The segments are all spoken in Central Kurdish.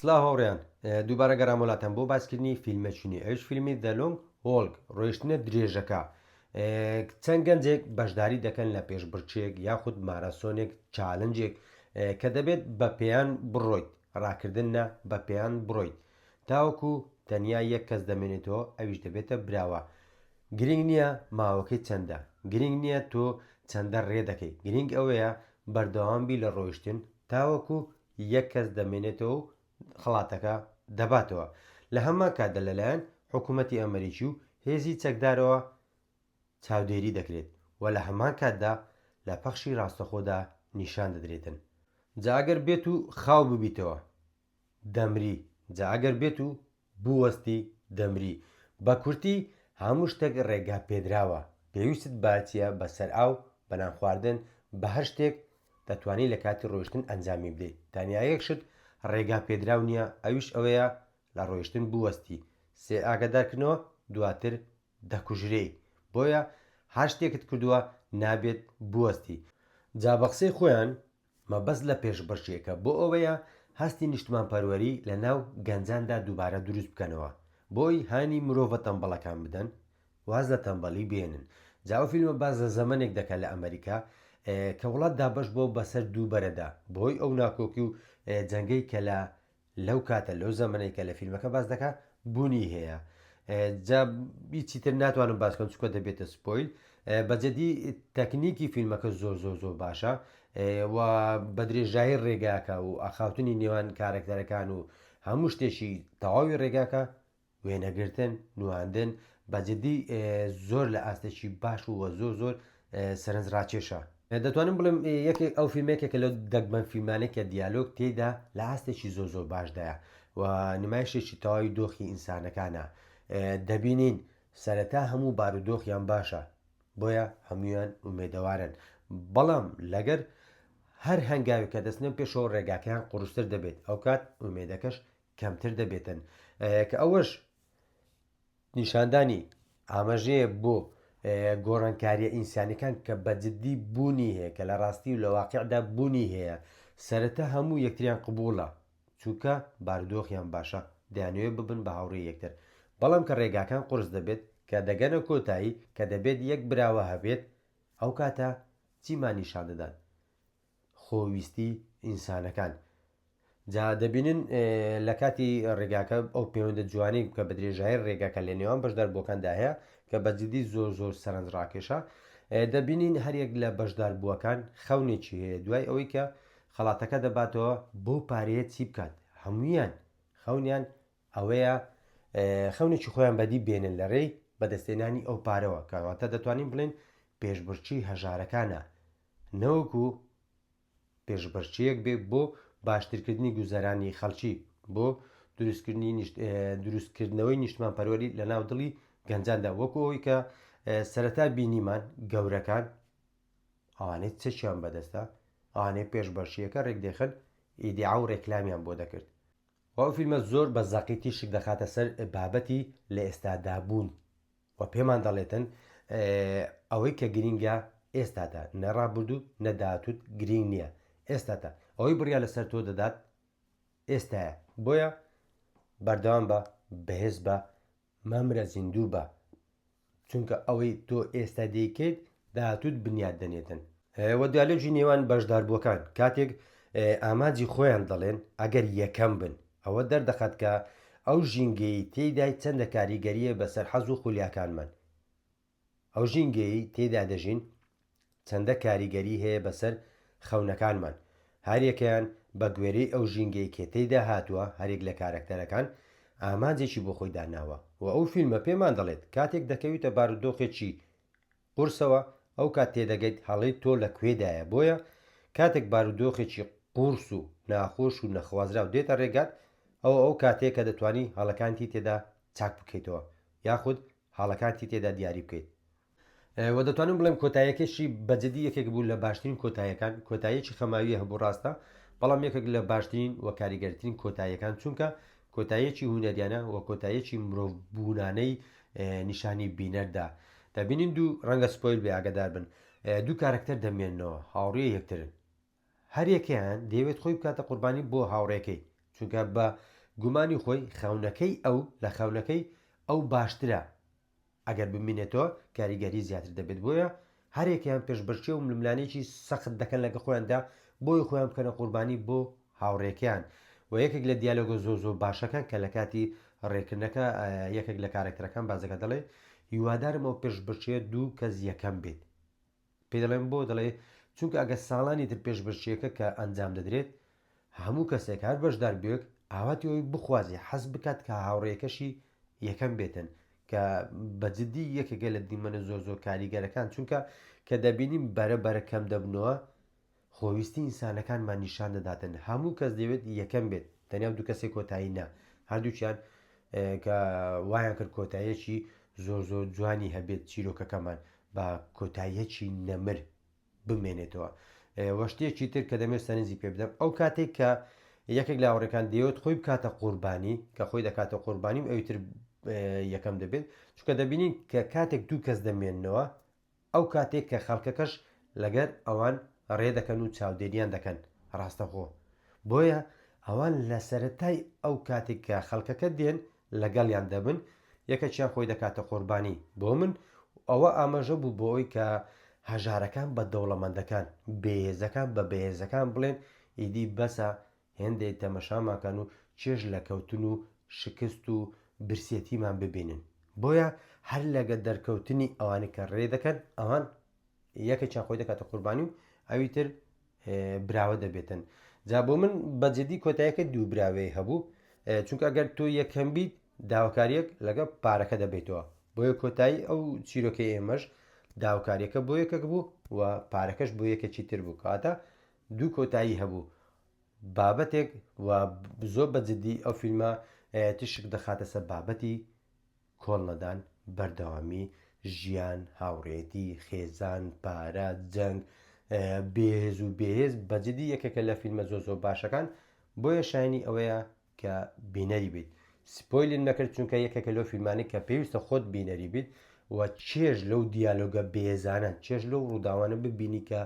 سلاو هاوریان دووبارە گەرام وەلاتان بۆ باسکردنی فیلمەچونی ئەوش فیلمی The Long Walk ڕۆیشتنە درێژەکە چەند گەنجێک بەشداری دەکەن لە پێشبڕچێک یاخود مارەسۆنێک چالنجێک کە دەبێت بە پێیان بڕۆیت ڕاکردن نە بە پێیان بڕۆیت تاوەکو تەنیا یەک کەس دەمێنێتەوە ئەویش دەبێتە براوە گرنگ نییە ماوەکەی چەندە گرنگ نییە تۆ چەندە ڕێ دەکەی گرنگ ئەوەیە بەردەوام بی لە ڕۆیشتن تاوەکو یەک کەس دەمێنێتەوە و خەڵاتەکە دەباتەوە لە هەمان کاتدا لەلایەن حکوومەتی ئەمەریکی و هێزی چەکدارەوە چاودێری دەکرێت و لە هەمان کاتدا لە پەخشی ڕاستەخۆدا نیشان دەدرێتن جا ئەگەر بێت و خاو ببیتەوە دەمری جا ئەگەر بێت و بووەستی دەمری بە کورتی هەموو شتەک ڕێگا پێدراوە پێویستت بە چیە بە سەر ئاو بە نان خواردن بە هەر شتێک دەتوانی لە کاتی ڕۆیشتن ئەنجامی بدەی تەنیا یەک شت ڕێگا پێدراو نیە ئەویش ئەوەیە لە ڕۆیشتن بووەستی سێ ئاگەدار کردنەوە دواتر دەکوژرێی بۆیە هەر شتێکت کردووە نابێت بووەستی جا بە قسەی خۆیان مەبەست لە پێشبڕکێکە بۆ ئەوەیە هەستی نیشتمانپەروەری لە ناو گەنجاندا دووبارە دروست بکەنەوە بۆی هانی مرۆڤە تەمبەڵەکان بدەن واز لە تەمبەڵی بێنن جا ئەو فیلمە باس لە زەمەنێک دەکا لە ئەمەریکا کە وڵات دابەش بووە بەسەر دوو بەرەدا بەهۆی ئەو ناکۆکی و جەنگەی کە لە لەو کاتە لەو زەمەنەی کە لە فیلمەکە باس دەکا بونی هەیە جا هیچی تر ناتوانم باس کەم چکە دەبێتە سپۆیل بەجددی تەکنیکی فیلمەکە زۆر زۆر زۆر باشە و بە درێژایی ڕێگاکە و ئاخاوتنی نێوان کارەکتەرەکان و هەموو شتێکی تەواوی ڕێگاکە وێنەگرتن، نواندن، بە جدی زۆر لە ئاستێکی باش و وە زۆر زۆر سەرنج ڕاکێشە. دەتوانم بڵێم یەکێک ئەو فیلمە یەکێکە لەو دەگمەن فیلمانەی کە دیالۆگ تێیدا لە ئاستێکی زۆر زۆر باشدایە و نمایشێکی تەواوی دۆخی ئینسانەکانە. دەبینین سەرەتا هەموو بارودۆخیان باشە بۆیە هەموویان ئومێدەوارن بەڵام لەگەر هەر هەنگاوێک کە دەچنە پێشەوە ڕێگاکەیان قوڕستر دەبێت ئەوکات ئومێدەکەش کەمتر دەبێتن کە ئەوەش نیشاندانی ئاماژەیە بۆ گۆڕانکاریە ئینسانەکان کە بەجددی بوونی هەیە کە لە ڕاستی و لە واقعدا بوونی هەیە سەرەتا هەموو یەکتریان قبووڵە چونکە باردۆخیان باشە دەیانەوێت ببن بە هاوڕێ یەکتر بەڵام کە ڕێگاکان قرس دەبێت کە دەگەنە کۆتایی کە دەبێت یەک براوە هەبێت ئەو کاتە چیمان نیشان دەدات خۆویستی ئینسانەکان. جا دەبینن لە کاتی ڕێگاکە ئەو پەیوەندە جوانی کە بە درێژای ڕێگاکە لە نێوان بەشدار بووەکاندا هەیە کە بەجددی زۆر زۆر سەرنج ڕاکێشە دەبینین هەریەک لە بەشدار بووەکان خەونێکی هەیە دوای ئەوەی کە خەڵاتەکە دەباتەوە بۆ پارەیە چی بکات هەمویان خەونیان ئەوەیە خەونێکی خۆیان بەدی بێنن لە ڕێی بەدەستێنانی ئەو پارەوە کەواتە دەتوانین بڵێن پێشبڕچی هەژارەکانە نەوەکو پێشبڕکێیەک بێ بۆ باشترکردنی گوزەرانی خەڵکی بۆ دروستکردنی دروستکردنەوەی نیشتمان پەروەری لە ناو دڵی گەنجاندا وەکو ئەوی کە سەرەتا بینیمان گەورەکان ئەوانەی چەکیان بەدەستە ئەوانەی پێش بەشیەکە ڕێک دێخن ئیدیا و ڕێکلامیان بۆ دەکرد و ئەو فیلمە زۆر بە زەقی تیشک دەخاتە سەر بابەتی لە ئێستادابوون و پێمان دەڵێتن ئەوەی کە گرینگە ئێستاتە نە ڕابردوو نە داهاتووت گرینگ نییە ئێستاتە ئەوەی بڕیا لەسەر تۆ دەدات ئێستایە بۆیە بەردەوام بە بەهێز بە مەمرە زیندوو بە چونکە ئەوەی تۆ ئێستا دەیکەیت داهاتووت بنیات دەنێتن. وە دیالۆگی نێوان بەشداربووەکان کاتێک ئامانجی خۆیان دەڵێن ئەگەر یەکەم بن ئەوە دەردەخات کە ئەو ژینگەیەی تێیدای چەندە کاریگەرییە بەسەر حەز و خولیاکانمان ئەو ژینگەیەی تێیدا دەژین چەندە کاریگەری هەیە بەسەر خەونەکانمان هەریەکەیان بە گوێرەی ئەو ژینگەی کە تێیدا هاتووە هەریەک لە کارەکتەرەکان ئامانجێکی بۆ خۆی داناوە وە ئەو فیلمە پێمان دەڵێت کاتێک دەکەویتە بارودۆخێکی قورسەوە ئەوکات تێدەگەیت هەڵەی تۆ لە کوێدایە بۆیە کاتێک بارودۆخێکی قورس و ناخۆش و نەخوازراو دێتە ڕێگات ئەوە ئەو کاتەیە کە دەتوانی هەڵەکانتی تێدا چاک بکەیتەوە یاخود هەڵەکانتی تێدا دیاری بکەیت وە دەتوانم بڵێم کۆتایەکەشی بەجدی یەکێک بوو لە باشترین کۆتایەکان کۆتایەکی خەماویە هەبوو ڕاستە بەڵام یەکێک لە باشترین و کاریگەرترین کۆتایەکان چونکە کۆتاییەکی هونەریانە و کۆتاییەکی مرۆڤ بوونانەی نیشانی بینەر دا دەبینین دوو ڕەنگە سپۆیل بێ ئاگەدار بن دوو کارەکتەر دەمێنەوە هاوڕێ یەکترن هەریەکەیان دەیەوێت خۆی بکاتە قوربانی بۆ هاوڕێکەی چونکە بە گومانی خۆی خەونەکەی ئەو لە خەونەکەی ئەو باشترە ئەگەر بمینێتەوە کاریگەری زیاتر دەبێت بۆیە هەرێکیان پێشبەرچێ و ململانێکی سەخت دەکەن لەگە خۆیاندا بۆی خۆیان بکەنە قوربانی بۆ هاوڕێکیان و یەکێک لە دیالۆگە زۆ زۆ باشەکان کە لە کاتی ڕێکردنەکە یەکێک لە کارێکتەرەکان بازەکە دەڵێ هیوادارم ئەو پێشبەرچێ دوو کەس یەکەم بێت پێی دەڵێم بۆ؟ دەڵێ، چونکە ئەگەر ساڵانی تر پێشبەشییەکە کە ئەنجام دەدرێت، هەموو کەسێک، هەر بەشداربووێک ئاواتی ئەوەی بخوازێ، حەز بکات کە هاوڕێیەکەشی یەکەم بێتن، کە بە جددی یەکێکە لە دیمەنە زۆر زۆر کاریگەرەکان، چونکە کە دەبینین بەرە بەرە کەم دەبنەوە، خۆویستی ئینسانەکانمان نیشان دەداتن هەموو کەس دەیەوێت یەکەم بێت تەنیا و دوو کەسێک کۆتایی نا هەردووکیان کە وایان کرد کۆتاییەکی زۆر زۆر جوانی هەبێت چیرۆکەکەمان بە کۆتاییەکی نەمر بمێنێتەوە وەشتێکی تر کە دەمێت سەرنجی پێ بدەم ئەو کاتێک کە یەکێک لاوەڕەکان دەیەوێت خۆی بکاتە قوربانی کە خۆی دەکاتە قوربانی و ئەویتر یەکەم دەبێت چونکە دەبینین کە کاتێک دوو کەس دەمێنەوە ئەو کاتەی کە خەڵکەکەش لەگەر ئەوان ڕێ دەکەن و چاودێریان دەکەن ڕاستەخۆ بۆیە ئەوان لە سەرەتای ئەو کاتێک کە خەڵکەکە دێن لەگەڵیان دەبن یەکەکیان خۆی دەکاتە قۆربانی بۆ من و ئەوە ئاماژە بوو بۆ ئەوی کە هەژارەکان بە دەوڵەمەندەکان بێهێزەکان بە بەهێزەکان بڵێن ئیدی بەسە هێندەی تەمەشامان کەن و چێژ لە کەوتن و شکست و برسێتیمان ببینن. بۆیە هەر لەگە دەرکەوتنی ئەوانەی کە ڕێ دەکەن، ئەوان یەکێکیان خۆی دەکاتە قوربانی و ئەوی تر براوە دەبێتن. جا بۆ من بە جدی کۆتایەکە دوو براوەی هەبوو، چونکە ئەگەر تۆ یەکەم بیت داواکاریەک لەگە پارەکە دەبیتەوە. بۆیە کۆتایی ئەو چیرۆکەی ئێمەش داواکاریەکە بۆ یەکەک بوو و پارەکەش بۆ یەکەکی تر بوو. کەواتە دوو کۆتایی هەبوو بابەتێک و زۆر بە جددی ئەو فیلمە تشک دەخاتە سەر بابەتی کۆڵ نەدان بەردەوامی ژیان هاوڕێتی خێزان پارە جەنگ بێهێز و بێهێز بەجددی یەکێکە لە فیلمە زۆ زۆر باشەکان بۆیە شایانی ئەوەیە کە بینەری بیت سپۆیلیم نەکرد چونکە یەکێکە لەو فیلمانەی کە پێویستە خۆت بینەری بیت و چێژ لەو دیالۆگە بێزانە چێژ لەو ڕووداوانە ببینی کە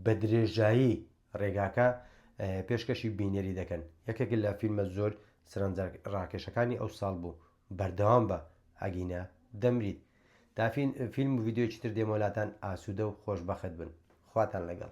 بە درێژایی ڕێگاکە پێشکەشی بینەری دەکەن یەکێک لە فیلمە زۆر سرنجە ڕاکێشەکانی ئەو ساڵ بوو بەردەوام بە ئەگینە دەمریت دافین فیلم و ڤیددیوی تر دێمۆلاتان ئاسوودە و خۆشببخت بن خواتان لەگەڵ